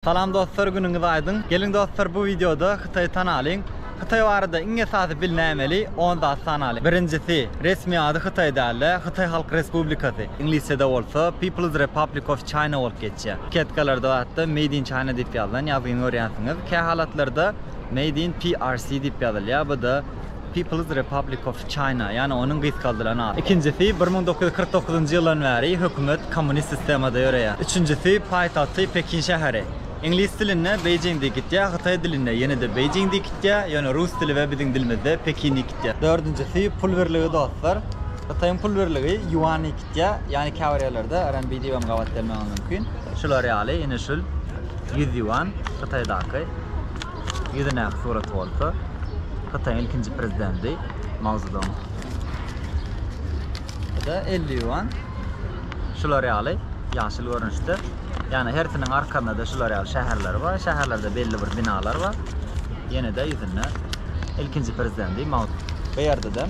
Salam dostlar günüňiz aýdyň. Geliň dostlar bu wideoda Hytaýy tanalyň. Hytaý barada iň esasy bilnämeli on zat sanalyň. Birinjisi, resmi ady Hytaý dälde, Hytaý Halk Respublikasy, iňlisçede bolsa People's Republic of China bolup geçýär. Ketkalarda hatda Made in China diýip ýazylan ýazgyny görýänsiňiz. Kähalatlarda Made in PRC diýip ýazylýar, bu-da People's Republic of China, ýagny onuň gysgaldylan ady. Ikinjisi, bir müň dokuz ýüz kyrk dokuzynjy ýyldan bäri hökümet kommunist sistemada ýöreýär. Üçünjisi, paýtagty Pekin şäheri. Iňlis dilinde Beijing diýip gitýär, hytaý dilinde ýene-de Beijing diýip gitýär, ýöne rus dili we biziň dilimizde Pekin diýip gitýär. Dördünjisi, pul birligi dostlar. Hytaýyň pul birligi ýuan diýip gitýär, ýagny käbir ýerlerde RMB diýip hem gabat gelmegi mümkin. Şular ýaly, ine şul ýüz ýuan, Hytaýdaky. Ýüzündäki surat bolsa Hytaýyň ilkinji prezidenti Mao Zedong. Bu-da elli ýuan. Şular ýaly ýaşyl görnüşde. Ýagny hersiniň arkasynda-da şular ýaly şäherler bar. Şäherlerde belli bir binalar bar. Ýene-de ýüzünde ilkinji prezidenti Mao Zedong. Bu ýerde-de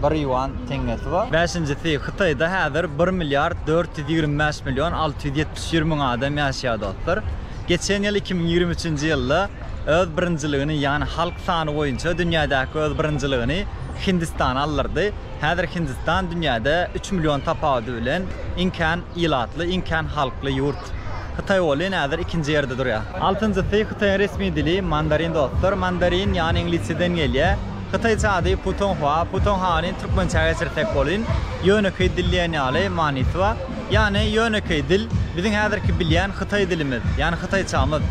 bir ýuan teňňesi bar. Bäşinjisi, Hytaýda häzir bir milliard dört ýüz ýigrimi bäş million alty ýüz ýetmiş bir müň adam ýaşaýar dostlar. Geçen ýyl iki müň ýigrimi üçünji ýylda öz birinjiligini ýagny halk sany boýunça dünýädäki öz birinjiligini Hindistan aldyrdy. Häzir Hindistan dünýäde üç million tapawudy bilen iň kän ilatly, iň kän halkly ýurt. Hytaý welin häzir ikinji ýerde durýar. Altynjysy Hytaýyň resmi dili mandarin dostlar. Mandarin ýagny iňlisçeden gelýär. Hytaýça ady Putonghua. Putonghany türkmençä geçirsek welin ýönekeý dil diýen ýaly manysy bar. Ýagny ýönekeý dil, biziň häzirki bilýän hytaý dilimiz, ýagny hytaýçamyz.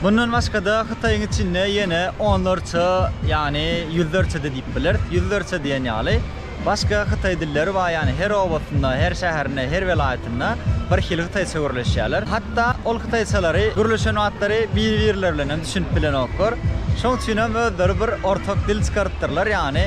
Mundan başga-da Hytaýyň içinde ýene onlarça, ýagny ýüzlerçe-de diýip bileris, ýüzlerçe diýen ýaly başga hytaý dilleri bar, ýagny her obasynda, her şäherinde, her welaýatynda bir hili hytaýça gürleşýärler. Hatda ol hytaýçalary gürleşen wagtlary bir-birleri bilen hem düşünip bilenoklar. Şonuň üçin hem özleri bir ortak dil çykarypdyrlar, ýagny.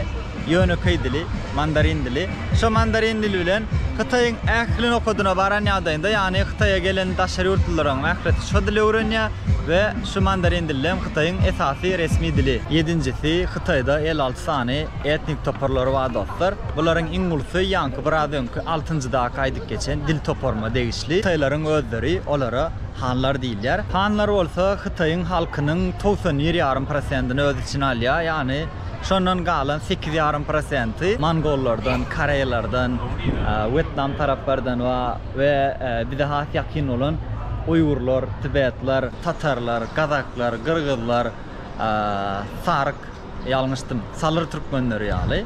ýönekeý dili, mandarin dili. Şo mandarin dili bilen Hytaýyň ähli nokadyna baran ýagdaýynda, ýagny Hytaýa gelen daşary ýurtlularyň ählisi şo dili öwrenýär we şu mandarin dili hem Hytaýyň esasy resmi dili. Ýedinjisi, Hytaýda elli alty sany etnik toparlary bar dostlar. Bularyň iň ulusy ýaňky biraz öňki altynjydaky aýdyp geçen dil toparyma degişli. Hytaýlaryň özleri olara hanlar diýilýär. Hanlar bolsa Hytaýyň halkynyň togsan bir ýarym prosentini öz içine alýar, ýagny. Şondan galan sekiz ýarym prosenti mongollardan, koreýlerden, wýetnam taraplardan we bize has ýakyn bolan uýgurlar, tibetler, tatarlar, gazaklar, gyrgyzlar, saryk, ýalňyşdym, salyr türkmenleri ýaly,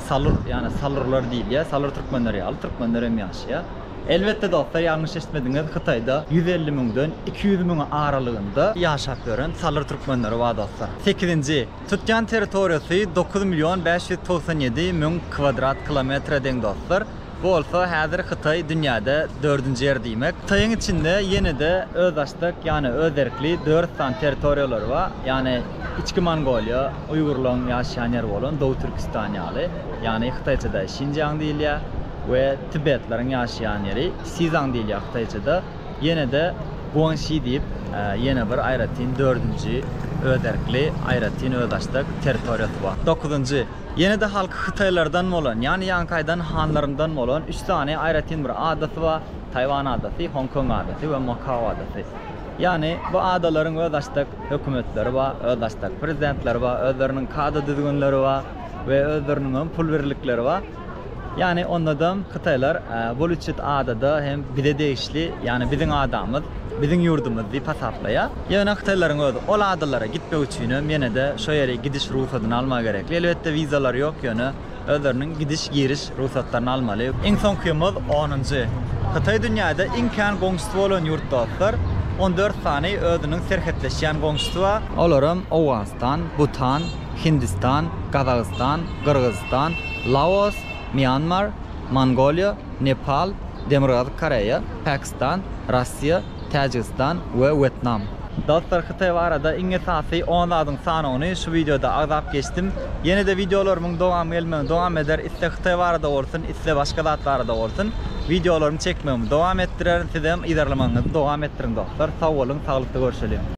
salur, ýagny salurlar diýilýär, salyr türkmenleri ýaly türkmenler hem ýaşaýar. Elbetde dostlar, ýalňyş eşitmediňiz, Hytaýda ýüz elli müňden iki ýüz müň aralygynda ýaşap ýören salyr türkmenleri bar dostlar. Sekizinji. Tutýan territoriýasy dokuz million bäş ýüz togsan ýedi müň kwadrat kilometre deň dostlar. Bu bolsa häzir Hytaý dünýäde dördünji ýer diýmek. Hytaýyň içinde ýene-de özbaşdak, ýagny özerkli dört sany territoriýalary bar. Ýagny Içki Mongoliýa, uýgurlaryň ýaşaýan ýeri bolan Dow Türkistan ýaly, ýagny hytaýçada Şinjiang diýilýär, we tibetleriň ýaşaýan ýeri Sizaň diýilýär hytaýçada. Ýene-de Guangxi diýip, ýene bir aýratyn dördünji özerkli, aýratyn özbaşdak territoriýasy bar. Dokuzynjy, ýene-de halky hytaýlardan bolan, ýagny Ýankaýdan hanlaryndan bolan üç sany aýratyn bir adasy bar, Taýwan adasy, Hong Kong adasy we Makao adasy. Ýagny bu adalaryň özbaşdak hökümetleri bar, özbaşdak prezidentleri bar, özleriniň kada düzgünleri bar we özleriniň hem pul birlikleri bar. Ýani ondadam Hytaýlar bul üçjut adada hem bize degişli, ýani biziň adamyz, biziň ýurdumyz diýip hasaplaýar. Ýöne Hytaýlaryň özi ol adalara gitmek üçinem ýenede şo ýeri gidiş rugsadyny almagy gerekli. Elbetde wizalary ýok ýöne özleriniň gidiş giriş rugsatlaryny almaly. Iň soňkymyz onunjy. Hytaý dünýäde iň kän goňşusy bolan ýurt dostlar. On dört sany özüniň serhetleşýän goňşusy bar. Olaram Owganystan, Butan. Hindistan, Gazagystan, Gyrgyzystan, Laos, Mýanmar, Mongoliýa, Nepal, Demirgazyk Koreýa, Pakistan, Russiýa, Täjigistan we Wýetnam. Dostlar Hytaý barada iň esasy on zadyň sanawyny şu wideoda agzap geçdim. Ýene-de wideolarymyň dowamy gelmegini dowam eder, iste Hytaý barada bolsun, iste başga zat barada bolsun. Wideolarymy çekmegimi dowam etdirerin, sizem yzarlamagyňyzy dowam etdiriň dostlar. Sag boluň, saglykda görşeliň.